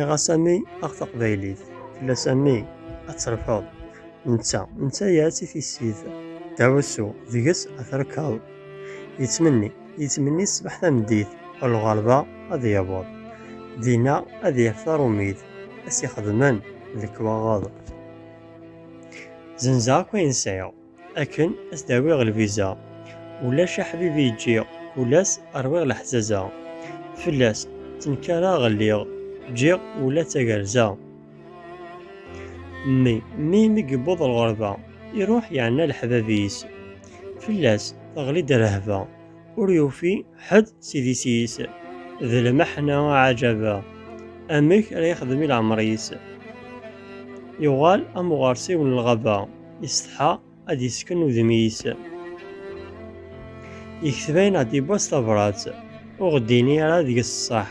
Iɣasani aɣ taqbaylit fell-asani ad terfeḍ netta netta-yas i tissit dawsu deg-s ad terkeḍ yettmenni Yettmenni ṣṣbeḥ tameddit, ɣer lɣerba ad yaweḍ. Dinna ad yaf tarumit, ad s-ixedmen lekwaɣeḍ. Zenzeɣ akk ayen sɛiɣ, akken ad s-d-awiɣ lviza. Ulac aḥbib i ǧǧiɣ, kul ass rwiɣ leḥzaza. Fell-as ttenkareɣ lliɣ, ǧǧiɣ ula d tagerza. Mmi, mmi mi yewweḍ lɣerba, iruḥ yeɛna leḥbab-is. Fell-as teɣli-d rrehba, ur yufi ḥedd s idis-is, d lmeḥna aɛaǧaba, amek ara yexdem i leɛmer-is. Yuɣal am uɣersiw n lɣaba, isetḥa ad d-yesken udem-is. Yekteb ayen ad d-yewwa s tabrat, ur ɣ-d-ini ara deg-s ṣṣeḥ.